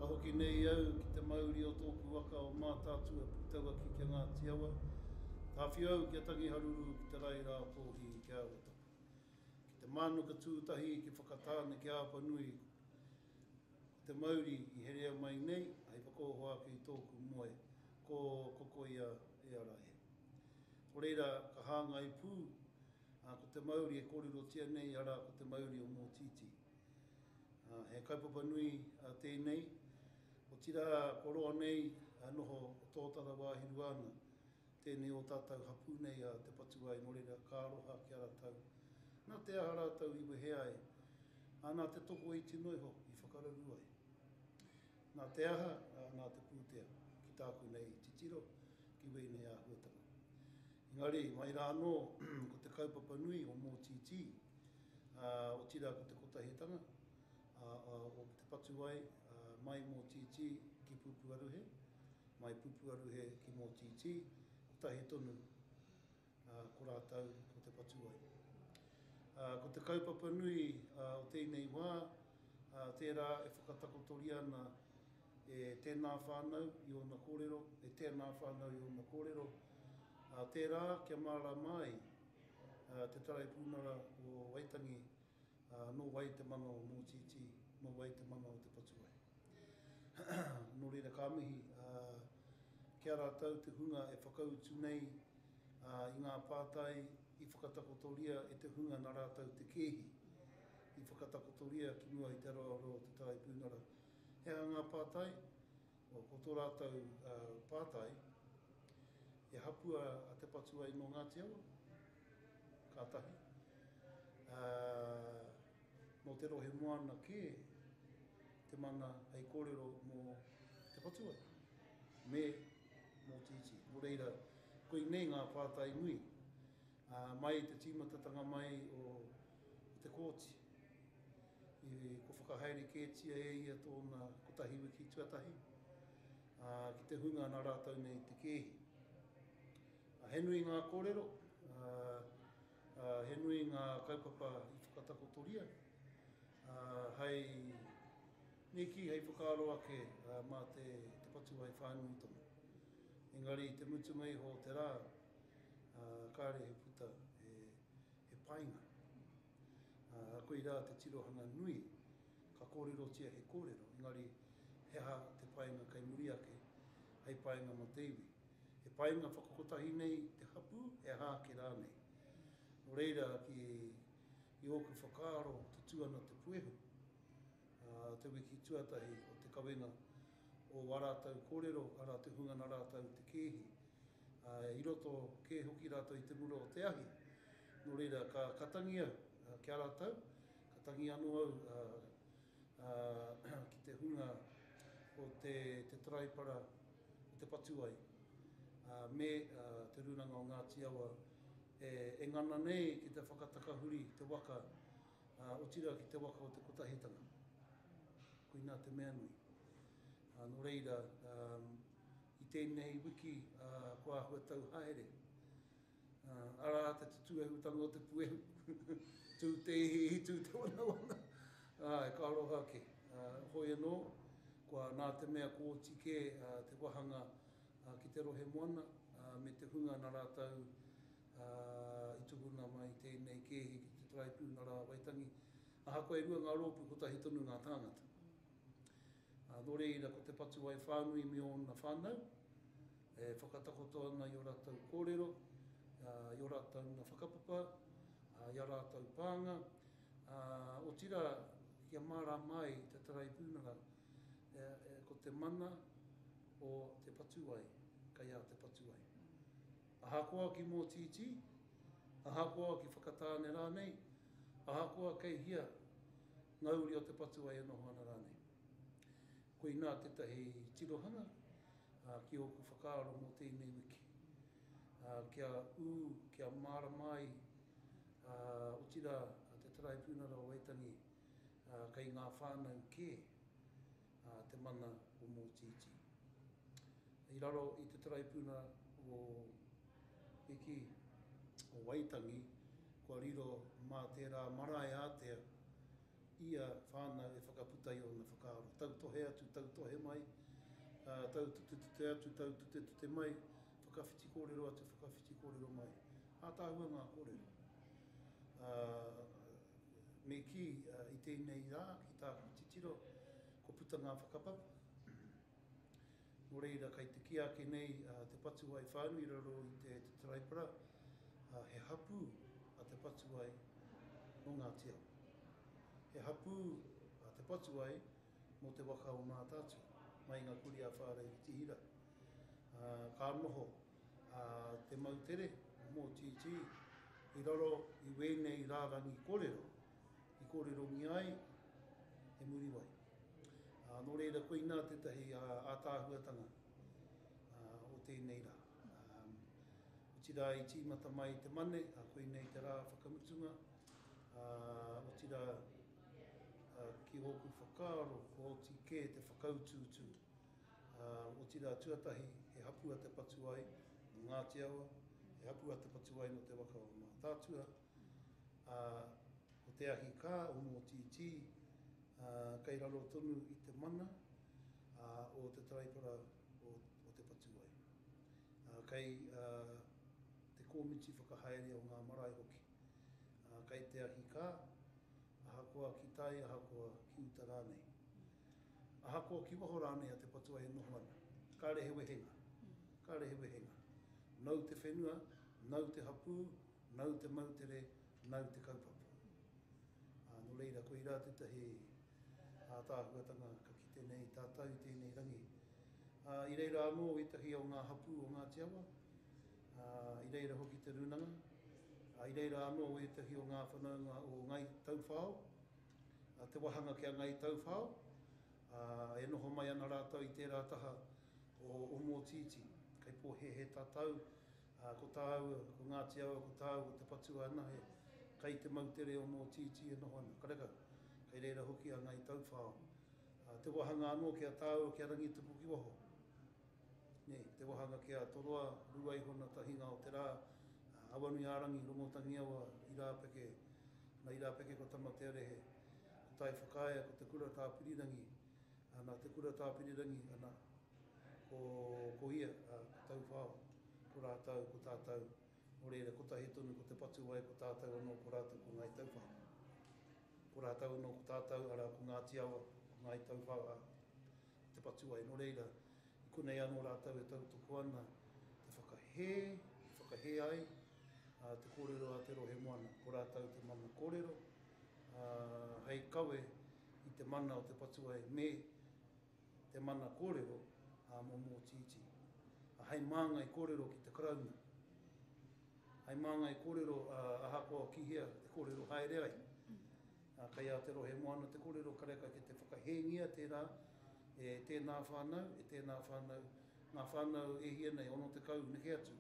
Ka hoki nei au ki te mauri o tōku waka o Mātaatua Puketauaki ki a Ngāti Awa. Tāwhio au ki a Tangi Haruru ki te rae rā kōhi ki Arowhatapi. Ki te mānuka tū tahi ki Whakatāne ki Āpanui ko te mauri i herea mai nei hei whakaoho ake i tōku moe ko Kokoia e ara e. Ko reira ka hāngai pū Ā, ko te mauri e kōrerotia nei, arā, ko te mauri o Mōtītī. Ā, he kaupapa nui tēnei, otirā kua roa nei e noho tōtara wāhirua ana tēnei ō tātou hapū nei a Te Patuai nō reira ka aroha ki a rātou nā te aha rātou i wehe ai, ā, nā te tokoiti noa iho i whakararū ai. Nā te aha, nā te pūtea, ki tāku nei titiro, ki wēnei āhuatanga. Engari, mai rā anō, ko te kaupapa nui o Mōtītī, otirā ko te kotahitanga, o te patuwai, mai Mōtītī ki Pupuaruhe, mai Pupuaruhe ki Mōtītī, kotahi tonu ā, ko rātou ko te patuwai. Ā, ko te kaupapa nui o tēnei wā, ā, tērā e whakatakotoria ana e tēnā whānau i ōna kōrero, e tēnā whānau i ōna kōrero, ā, tērā kia mārāma ai te Taraipiunara o Waitangi Nō wai te mana o Mōtītī, nō wai te mana o Te Patuwai? Nō reira ka mihi ki a rātou te hunga e whakautu nei i ngā pātai i whakatakotoria e te hunga nā rātou te kēhi i whakatakotoria ki mua i te aroaro o Te Tai Pūnara. He aha ngā pātai? Ko tō rātou pātai, e hapua a Te Patuwai nō Ngāti Awa? Kātahi, ā, nō te rohe moana kē te mana hei kōrero mō Te Whatuwai me mō Tītī. Nō reira, koinei ngā pātai nui, ā, mai i te tīmatatanga mai o te Kōti, i, kua whakahaere kētia e ia tōna kotahi wiki tuatahi, ā, ki te hunga nā rātou nei te kēhi. He nui ngā kōrero, ā, he nui ngā kaupapa i whakatakotoria, ā, hei niki, hei whakaaro ake mā te tapatū hai whānui tonu. Engari i te mutunga iho o te rā, ā, kāre he puta he, he painga. Ā, koir ā te tirohanga nui, ka kōrerotia he kōrero, engari he aha te painga kei muri ake, hei painga mō te iwi. He painga whakakotahi nei te hapū, he aha ake rānei. Nō reira, ki, i ōku whakaaro, tutū ana te puehu. Ā, te wiki tuatahi o te kawenga, o ā rātou kōrero, arā, te hunga nā rātou te kēhi, ā, i roto kē hoki rātou i te mura o te ahi. Nō reira, ka, ka tangi au, ā, ki a rātou, ka tangi anō au, ā, ā, ki te hunga o te, te taraipara, i te patu ai, ā, me Te Rūnanga o Ngāti Awa e ngana nei ki te whakatakahuri te waka, ā, otirā ki te waka o te Kotahitanga. Koinā te mea nui. Ā, nō reira, ā, i tēnei wiki, ā, kua āhua tau haere. Arā te tutuehutanga o te puehu, tū te ihiihi, tū te wanawana. Āe, ka aroha ake. Hoi anō, kua nā te mea kōti kē te wāhanga ki te rohe moana me te hunga nā rātou i tukuna mai tēnei kēhi ki te Tarāipū nā rā Waitangi. Ahakoa e rua ngā rōpū, kotahi tonu ngā tāngata. Ā, nō reira, ko te Patuwai whānui me ōna whānau, e whakatakoto ana i ō rātou kōrero, ā, i ō rātou nā whakapapa, ā, i ā rātou pānga, ā, otirā, kia mārāma ai te Taraipiunara, e, e, ko te mana o te Patuwai, kei a te Patuwai. Ahakoa ki mōtītī, ahakoa ki Whakatāne rānei, ahakoa kei hia, Ngā uri o te patuai e noho ana rānei. Koinā tētahi tirohanga ki ōku whakaaro mō tēnei wiki. Kia ū, kia mārama ai, otirā te Taraipiunara o Waitangi kei ngā whānau kē. a te mana o Mōtītī. I raro i te taraipuna o Piki, o Waitangi, kua riro mā tērā marae ātea ia whānau e whakaputa i ōna whakaaro. Tautohe atu, tautohe mai, taututetute atu, taututetute mai, whakawhiti kōrero atu, whakawhiti kōrero mai. Ātaahua ngā kōrero. Me kī, i tēnei rā, ki tāku titiro, kua puta ngā whakapapa. Nō reira, kei te kī ake nei te patuwai whānui i raro i te Taraipara, he hapū te patuwai nō Ngāti Awa. He hapū te patuwai mō te waka o Mātaatua, mai i ngā kurī a Whāreritihira. Ka noho. a te moutere mō TT i raro i wēnei rārangi korero i kōrerongia ai e Muriwai. Ā, nō reira koinā tētahi ātaahuatanga o tēnei rā. Otirā i tīmata mai te mane, a koinei te rā whakamutunga, ā, otirā ki ōku whakaaro, ko oti kē te whakautuutu. Otirā tuatahi he hapū a Te Patuai nō Ngāti Awa, he hapū a Te Patuai nō te waka o Mātaatua, ā, ko te ahi kā o Mōtītī kei raro tonu i te mana o te taraipara o Te Patuai. Kei te kōmiti whakahaere o ngā marae hoki. Kei te ahi kā, ahakoa ki tai, ahakoa ki uta rānei. Ahakoa ki waho rānei a te patua e noho ana, kāre he wehenga, kāre he wehenga. Nau te whenua, nau te hapū, nau te moutere, nau te kaupapa. Ā, nō reira, koirā tētahi ātaahuatanga ka kite nei tātou i tēnei rangi. Ā, i reira anō ētahi o ngā hapū o Ngāti Awa, ā, i reira hoki te rūnanga, ā, i reira anō ētahi o ngā whanaunga o Ngāi Tauwhao, te wāhanga ki a Ngāi Tauwhao, ā, e noho mai ana rātou i tērā taha o Ōmōtītī. Kei pōhēhē tātou, ā, ko tāu, ko Ngāti Awa, ko tāu, ko te patua anahe, kei te moutere Ōmōtītī e noho ana. Karekau, kei reira hoki a Ngāi Tauwhao. Ā, te wāhanga anō ki a tāua, ki a Rangitupukiwaho. Te wahanga ki a Toroa, Ruaihona, Tahinga o te Ra, Awanuiarangi, Rongotangiawa, Irapeke, na Irapeke ko Tamatearehe, ko Taiwhakaea, ko Te Kura Tapirirangi, na Te Kura Tapirirangi, ana, ko ia, ko Tauwhao, ko ratou, ko tatou, no reira kotahi tonu ko Te Patuwai, ko tatou ano ko ratou ko Ngai Tauwhao, ko ratou ano ko tatou ara ko Ngati Awa, ko Ngai Tauwhao, a. te patuai, nō reira, i konei anō rātou e tautoko ana te whakahē, te whakahē ai te kōrero a te rohe moana, ko rātou te mana kōrero, ā, hei kawe i te mana o te patuai me te mana kōrero a Momo Tītī. Ā, hei māngai kōrero ki te Karauna, hei māngai kōrero ahakoa ki hea e kōrero haere ai, Ā, kei a Te Rohe Moana te kōrero karekau ki te whakahēngia tērā e tēnā whānau, e tēnā whānau, ngā whānau e hia nei 60 neke atu,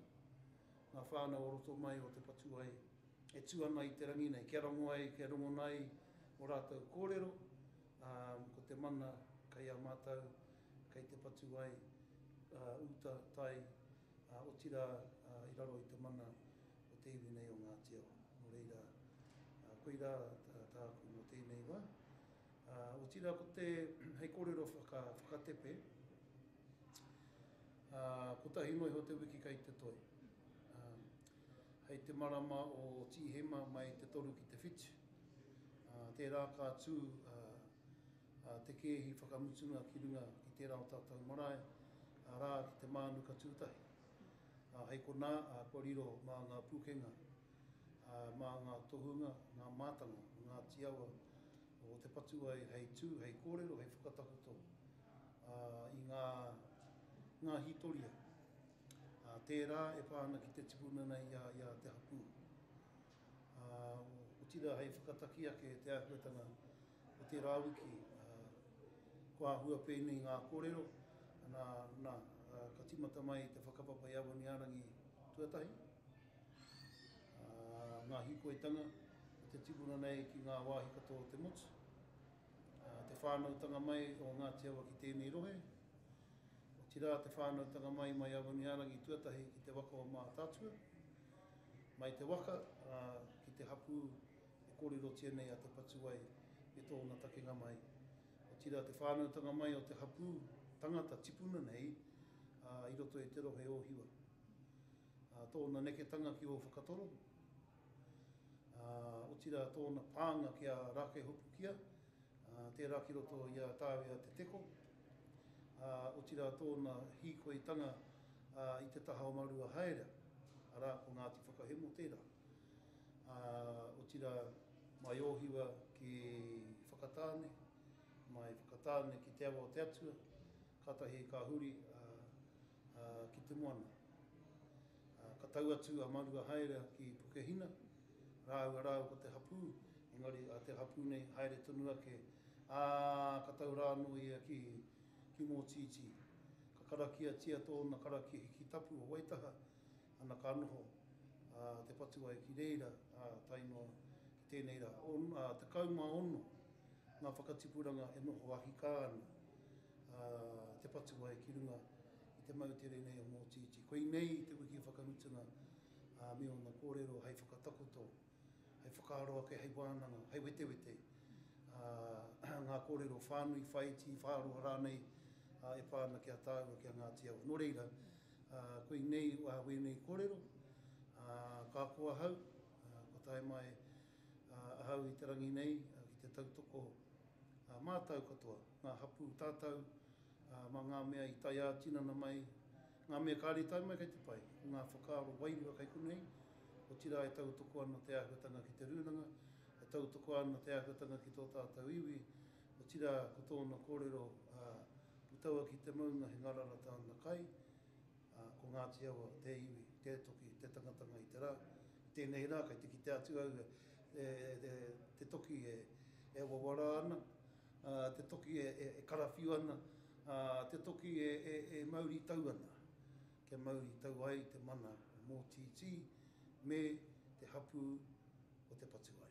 ngā whānau o roto mai o Te Whatuwai e tū ana i te rangi nei kia rongo ai, kia rongona ai o rātou kōrero, ā, ko te mana kei a mātou, kei Te Whatuwai, ā, uta, tai, ā, otirā, ā, i raro i te mana. o te iwi nei o Ngāti Awa. Nō reira, koirā tāku mō tēnei wā. Otirā ko te hei kōrero whakatepe, kotahi noa iho te wiki kei te toi. Hei te marama o Tīhema mai te toru ki te whitu, tērā ka tū te kēhi whakamutunga ki runga ki tērā o tātou marae, arā ki te mānuka tūtahi. ā, hei konā, ā, kua riro mā ngā pūkenga, ā, mā ngā tohunga, ngā mātanga o Ngāti Awa, o Te Patuwai hei tū, hei kōrero, hei whakatakoto, ā, i ngā, ngā hītoria, ā, tērā e pā ana ki te tipuna nei i a, i a Te Hapū. ā, otirā hei whakataki ake i te āhuatanga o tērā wiki, ā, kua āhua pēnei ngā kōrero, nā, nā, ā, ka tīmata mai te whakapapa i Awaniārangi tuatahi, ā, ngā hīkoitanga o te tipuna nei ki ngā wāhi katoa o te motu, ā, te whānautanga mai o Ngāti Awa ki tēnei rohe, otirā te whānautanga mai mai Awaniārangi tuatahi ki te waka o Mātaatua. Mai te waka, ā, ki te hapū e kōrerotia nei a Te Patuwai me tōna takenga mai. Otirā te whānautanga mai o te hapū tangata tipuna nei, ā, i roto i te rohe o Hiwa. Ā, tōna neketanga ki Ōwhakatoro, ā, otirā tōna pānga ki a Rākeihopukia, tērā ki roto i a Tāwia Te Teko, ā, otirā tōna hīkoitanga i te taha o Marua Haerea, arā, ko Ngāti Whakahemo tērā. Ā, otirā, mai Ōhiwa ki Whakatāne, mai Whakatāne ki Te Awa o te Atua, kātahi ka huri, ā, ā, ki te moana. Ā, ka tau atu a Marua haere ki Pukehina rāua rāua ko te hapū, engari a te hapū nei haere tonu ake, ā, ka tau rā anō ia ki, ki Mōtītī. Ka karakiatia tōna karakia hiki tapu o Waitaha, ana ka noho, ā, te patu ai ki reira, ā, tae noa ki tēnei rā. On, ā, 16 ngā whakatipuranga e noho ahikā ana, a Te Whatuwai ki runga i te moutere nei o Mōtītī. Koinei te wiki whakamutunga a me ōna kōrero hei whakatakoto, hei whakaaro ake, hei wānanga, hei wetewete a ngā kōrero whānui, whaiti, whāroa rānei a e pā ana ki a tāua, ki a Ngāti Awa. Nō reira, a koinei a wēnei kōrero, a ka ko ahau, a ko tae mai, Ahau i te rangi nei ki te tautoko mātau katoa, ngā hapū tātau mā ngā mea i tae ā-tinana mai, ngā mea kāre tae mai kei te pai, ngā whakaaro wairua kei konei, otirā e tautoko ana te āhuatanga ki te rūnanga, e tautoko ana te āhuatanga ki tō tātau iwi, otirā ko tōna kōrero puta ua ki te maunga he ngarara tāna kai, ā, ko Ngāti Awa te iwi, te toki, te tangatanga i te rā. I tēnei rā kei te kitea atu au e, e, te toki e, e wawara ana, ā, te toki e, e, e karawhiu ana, ā, te toki e, e, e mauri tau ana. Kia mauri tau ai te mana mōtītī me te hapū o te patuae.